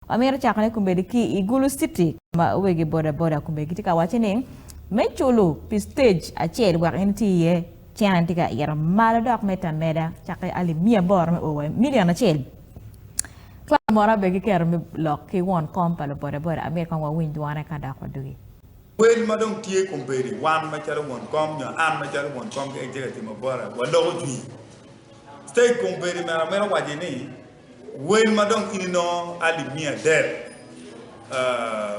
Amito cako ne kombeddi ki i Gulu city ma wegi boda boda kombeddi gitye ka wace ni me culu pi stage acel wek in iti iye cen an tye ka ito malo dok mete ameda cake alip miya aboro me o wa i million acel club moro abe gi keto me lok ki won kom pa lu boda boda amito kong wa winy dwone ka dok wa dugi. Wel ma dong tye kombeddi wan ma calo won kom nyo an ma calo won kom keken tye ka timo bota wa loko jwi stage kombeddi meno amito waci ni. Wel ma dong in inongo alip miya adek,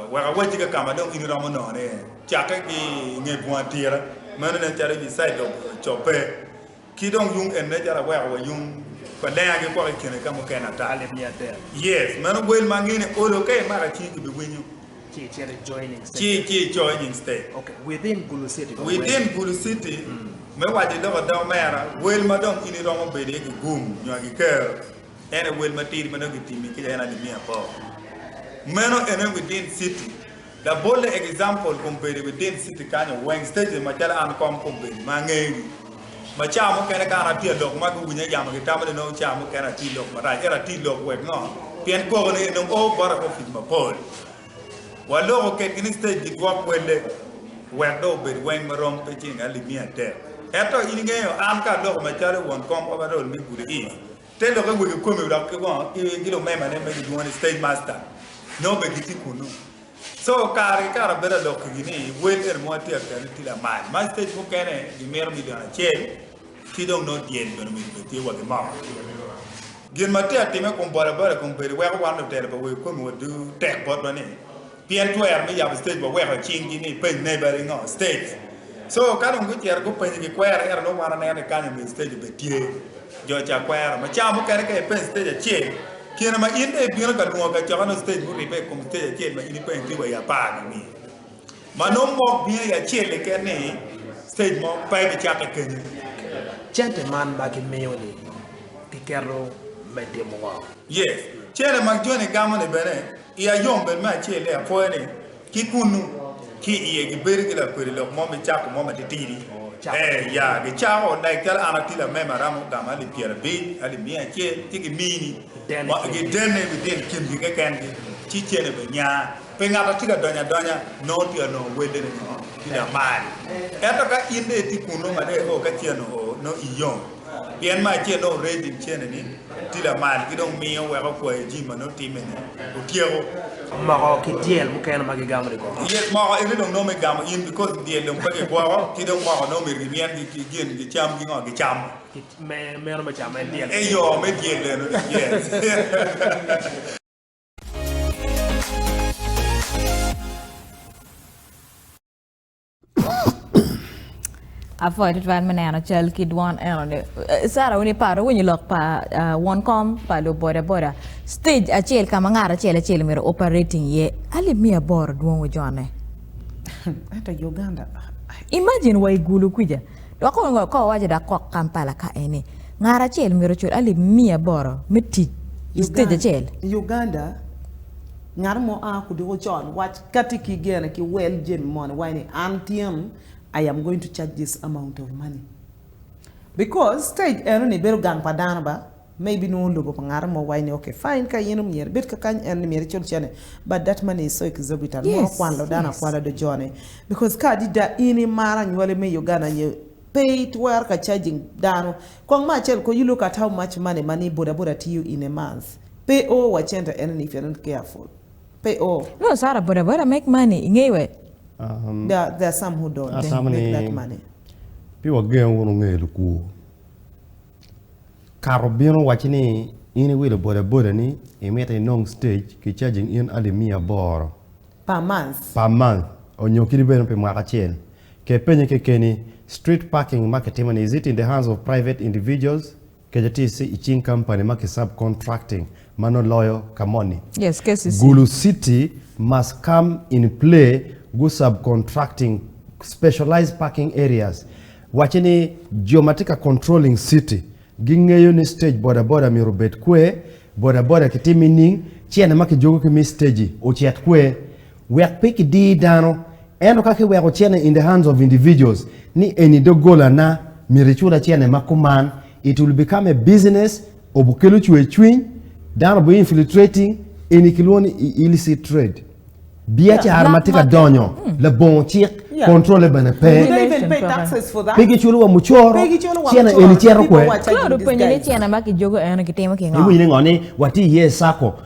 wek awacci ka ka ma dong in iromo nongo ni cakke ki i nge bunga tira, meno nen calo ibi caid dog cobbe, ki dong yung en nen calo aweko wa yung pa lenga ki kwako i kine ka mukene ata. Yes, meno wel ma angene olo ka imaka cingi ki bi winyo. ci icito i joining state within gulu city. Me waco i lok adongo mera, wel ma dong in iromo bedo iye gigum nyo agiker en aye wel matidi ma dong gitimi kica en aye miya bor. Meno ene within city. Labolle example kun bedo within city kanyo weng stages macalo an kong kun bedo ma angeyogi. Ma ca mukene ka an atye alok ma guwinya yamo gitamo ni nongo ca mukene ati lok marac. Ento ati lok wek ngo? Pien koko ni enong oo bota ki opic mapol. Waloko ketgi ni stage gidwok welle wek dong obed weng ma rom pe cing alip miya adek. Ento in ingeyo an ka aloko macalo won kom overall me Gudi East, te lokke wegi komi dok ki ngo? Ki lumemane ma gidwongo ni stage master nongo bene gitye kunnu. So kare ki kare bedo alokigi ni wel eni mogo tye akene ni tye lamal ma stage mukene gimito milion acel ki dong nongo dyel bene omyero obed tye wa ki moko. Gin ma tye atime i kom bodaboda i kom bedo weko wan lutelo pa wer kome wa duu tek botwa ni pien twero me yabo stage wa weko icing gi ni ipeny ne badi ngo stage so ka dong gucito gupenyo gi kwero ento nongo wan aneno ni kany omyero stage obed tye jo ca kwero ma ca mukene ka ipeny stage acel Kine ma in dong ibino ka nongo kacokane octej muribbe i kom octej acel ma in ipenyo tye wa i apar nini? Ma nongo mok bino i acel keken ni octej mo pe ibicakke kenyo. Cente man ma gimiyo ni giketo me timo ngo? Yes. Cente ma joni gamo ni bene iya yom bed me acel ni apwoyo ni Ki kunnu, ki iye, gibedo ki lakwede lok mo me cako mo matitidi. Ee, ya, gicako, like calo an atila me maramo gamo alip pyerabic, alip miya acel, ci gimini, gidene bitino kingi kekengi, ci cene bene nya. Pe ngat atye ka donyo adonya, nongo tye ka nongo welle nio ki lamal. Ento ka in dong itye kunnu, mada io ka cen-nu oo, nongo iyom. Pien me acel nongo reco i cene ni tye lamal ki dong miyo weko kwayo jami ma nongo timme ni otyeko. Moko ki dyel mukene ma gigamo ni gwoko. Dyel moko ene dong nongo me gamo in because dyel dong pe gigwoko ki dong moko nongo myero gimyen gi ki gin gicam ki ngo gicamo. Kit me meno me camo en dyel. Eyo me dyel eno ni yes. Apwoyo tutwal me neno cal ki dwon enoni. Eh, Sara wun iparo winyo lok pa ah, won kom pa luboda boda stage acel ka ma ngat acel acel myero operating iye alip miya aboro dwong wujone. Ento Uganda Imagine wa igulu kuja dok ongo ko wawaco dak kok Kampala ka eni ngat acel myero ocul alip miya aboro me tic i stage Uganda- acel. Uganda ngat mo a kuduku con wac Ka tye ki gene ki wel jami mo ni wai ni an tyen I am going to charge this amount of money because stage eno ni bedo gang pa dano ba ma ibinongo lobo pa ngato mo wai ni okay fine ka in myero ibed ka kany eno ni myero icul cene but that money is so exorbitant mono kwalo dano akwala do jo ne because ka adida in imaro anywali me Uganda nyo pe itwero ka charging dano kong ma acel ko you look at how much money ma ni boda boda tiyo in a month pe o wa cente eno ni if you're not careful. Pe o. Nongo Sarah bodaboda make money ingeye wek. There are some who don't make that money. Asama ni pi wagengo wunu nge lukur. Kato bino owacci ni in i wilo bodaboda ni imito inong stage ki charging in alip miya aboro. Per month. Per month onyo kiti bene pi mwaka acel. Ke penye kekeni, street parking ma kitimo ni is it in the hands of private individuals Kece tye i cing kampani ma kisub-contracting ma nongo loyo ka moni. Yes, KCC. Gulu City must come in play gu sub-contracting specialized parking areas. Wacce ni jo ma tye ka controlling city gingeyo ni stage bodaboda myero obed kwer, bodaboda kitim i ning, cene ma kijuko ki me stage-i ocit kwer. Wek pe kidir dano, ento ka kiweko cene in the hands of individuals ni eni doggola na, myero icula cene ma kuman, it will become a business of okelo cwer cwiny, dano bu infiltrating, eni kilwongo ni illicit trade. Biacara ma tye ka donyo labongo cik, controle bene pe. Pe giculo wa mucoro, cene eni cito kwer. Claude openyo ni cene ma kijogo eno kitimo kingo? Iwinyo ni ngo ni watye iye i sacco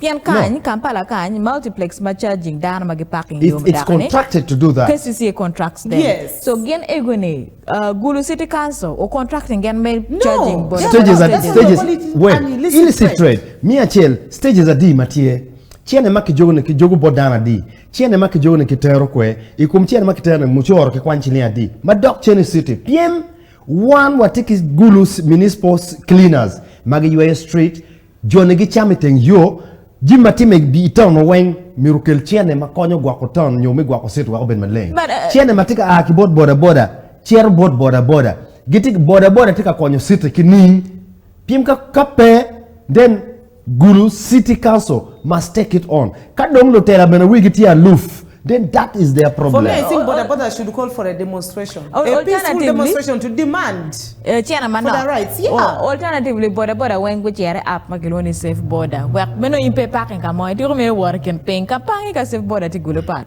Pien kany, Kampala kany, multiplex ma charging dano ma giparking yo me dako ni, KCCA contracts them, so gin ego ni Gulu city council o contracting gen me charging bodaboda stages wek illicit trade, me acel stages adi ma tye, cene ma kijogo ni kijogo bot dano adi, cene ma kijogo ni kitero kwe, i kom cene ma kitero ni mucoro ki kwany ciling adi ma dok cene city pien wan watye ki Gulu municipal cleaners ma giyweyo street, Jone gicamo i teng yo. Jami ma timme i taun-nu weng myero okel cene ma konyo gwoko taun nyo me gwoko city wek obed maleng. Cene ma tye ka a ki bot bodaboda cito bot bodaboda. Gitye ki bodaboda tye ka konyo city ki ning? Pien ka pe, then gulu city council must take it on. Ka dong lutela bene wigi tye aluf. Then that is their problem. Alternatively, bodaboda weng gucito i app ma kilwongo ni Safe Boda wek me nongo in pe iparking ka mo, ityeko mere wot i kin piny ka pang ki ka Safe Boda tye gulu pat.